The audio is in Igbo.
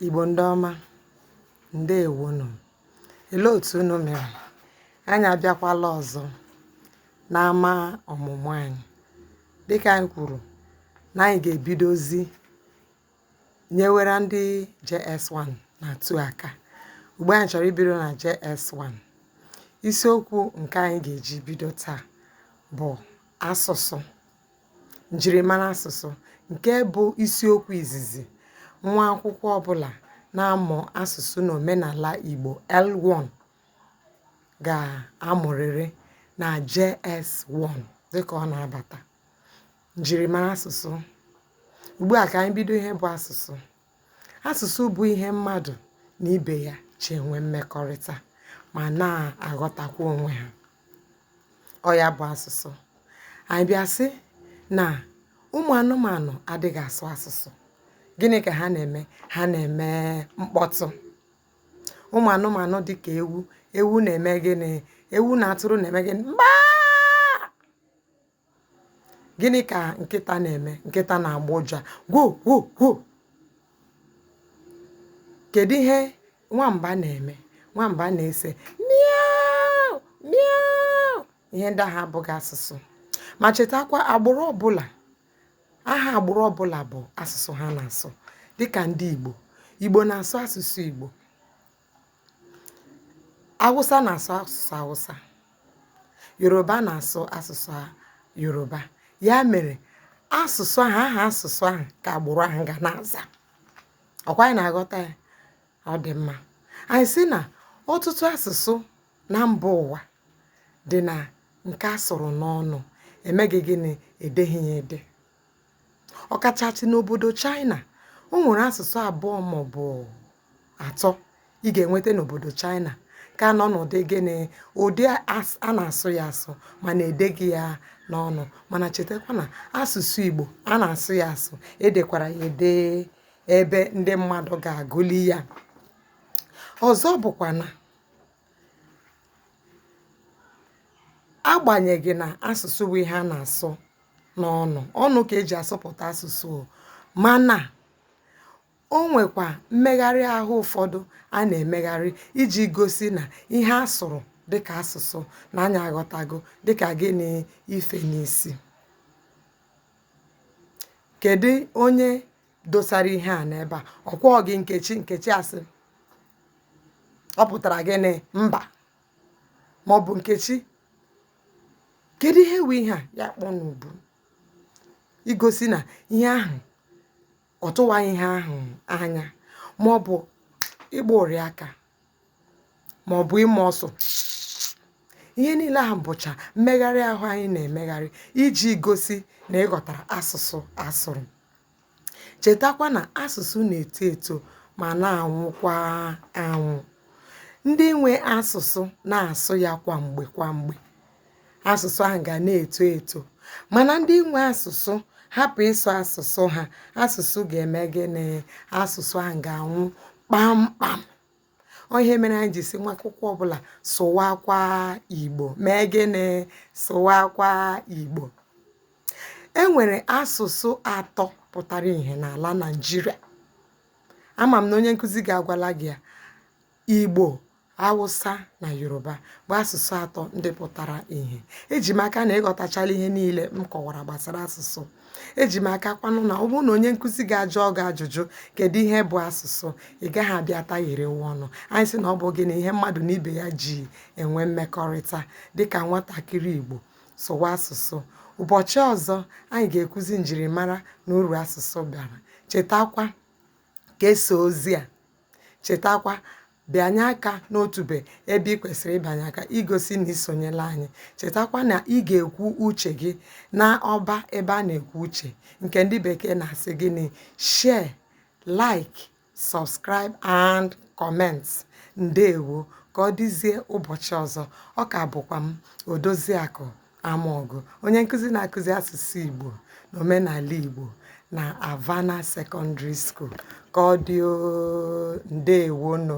Igbo ndị ọma, ndewo nụ. Olee otu unu mere? Anyị abịakwala ọzọ n'ama ọmụmụ anyị. Dịka anyị kwuru na anyị ga-ebidozi nyewere ndị JS1 na 2 aka. Ugbu a anyị chọrọ ibido na JS1. Isiokwu nke anyị ga-eji bido taa bụ asụsụ. Njirimara asụsụ nke bụ isiokwu izizi nwa akwụkwọ ọbụla na-amụ asụsụ na omenala Igbo, L1, ga-amụrịrị na JS1 dịka ọ na-abata. Njirimara asụsụ. Ugbu a ka anyị bido ihe bụ asụsụ. Asụsụ bụ ihe mmadụ na ibe ya ji enwe mmekọrịta ma na-aghọtakwa onwe ha. Ọ ya bụ asụsụ. Anyị bịa sị na ụmụ anụmanụ adịghị asụ asụsụ, gịnị ka ha na-eme? Ha na-eme mkpọtụ. Ụmụ anụmanụ dị ka ewu, ewu na-eme gịnị? Ewu na atụrụ na-eme gịnị? Mbaa! gịnị ka nkịta na-eme nkịta na-agbọ ụja gwo gwo gwo kedu ihe nwamba na-eme nwamba na-asị miau miau ihe ndị ahụ abụghị asụsụ ma chetakwa agbụrụ ọbụla aha agbụrụ ọbụla bụ asụsụ ha na-asụ dịka ndị igbo igbo na-asụ asụsụ igbo Awụsa na-asụ asụsụ Awụsa, Yoruba na-asụ asụsụ Yoruba. Ya mere, asụsụ ahụ aha asụsụ ahụ ka agbụrụ ahụ ga na-aza. Ọ kwa anyị na-aghọta ya? Ọ dị mma. Anyị sị na ọtụtụ asụsụ na mba ụwa dị na nke a sụrụ n'ọnụ, emeghị gịnị? E deghị ya ede. ọkachasị n'obodo China o nwere asụsụ abụọ maọbụ atọ ị ga-enweta n'obodo China ka nọ n'ụdị gịnị ụdị a na-asụ ya asụ mana edeghị ya n'ọnụ mana chetakwa na asụsụ Igbo a na-asụ ya asụ edekwara ya ede ebe ndị mmadụ ga-agụli ya ọzọ bụkwa na agbanyeghị na asụsụ bụ ihe a na-asụ n'ọnụ ọnụ ka eji asụpụta asụsụ o mana o nwekwa mmegharị ahụ ụfọdụ a na-emegharị iji gosi na ihe a sụrụ dịka asụsụ na anyị aghọtago dịka gịnị ife n'isi kedu onye dosara ihe a n'ebe a ọ kwa ọ gị nkechi nkechi asị ọ pụtara gịnị mba maọbụ nkechi kedu ihe wụ ihe a ya kpọ n'ubu igosi na ihe ahụ ọ tụwaghị ihe ahụ anya ma ọ bụ ịgba ụrị aka ma ọ bụ ịma ọsụ ihe niile ahụ bụcha mmegharị ahụ anyị na-emegharị iji gosi na ị ghọtara asụsụ a sụrụ Chetakwa na asụsụ na-eto eto ma na-anwụkwa anwụ. Ndị nwe asụsụ na-asụ ya kwa mgbe kwa mgbe, asụsụ ahụ ga na-eto eto. Mana ndị nwe asụsụ hapụ ịsụ asụsụ ha, asụsụ ga-eme gịnị? Asụsụ ahụ ga-anwụ kpamkpam. ọ ihe mere anyị ji sị nwa akwụkwọ ọbụla sụwakwa igbo mee gịnị sụwakwa igbo e nwere asụsụ atọ pụtara ihe n'ala naijiria ama m na onye nkụzi ga-agwala gị ya igbo awụsa na yoruba bụ asụsụ atọ ndị pụtara ihe eji m aka na ị ghọtachala ihe niile m kọwara gbasara asụsụ eji m aka kwanụ na ọ bụrụ na onye nkụzi gị ajụọ gị ajụjụ kedu ihe bụ asụsụ ị gaghị abịa tagheriwa ọnụ anyị sị na ọ bụ gịnị ihe mmadụ na ibe ya ji enwe mmekọrịta dịka nwatakịrị igbo sụwa asụsụ ụbọchị ọzọ anyị ga-ekwuzi njirimara na uru asụsụ bara chetakwa kesaa ozi a Chetakwa, bịanye aka n'otube ebe ị kwesịrị ịbịanye aka igosi na i sonyela anyị. Chetakwa na ị ga-ekwu uche gị na ọba ebe a na-ekwu uche nke ndị bekee na-asị gịnị share, like, subscribe and comment. Ndewo, ka ọ dịzie ụbọchị ọzọ. Ọ ka bụkwa m Odoziakụ Amaọgụ onye nkụzi na-akụzi asụsụ Igbo na omenala Igbo na Havana Secondary School ka ọ dị oo, ndewonụ.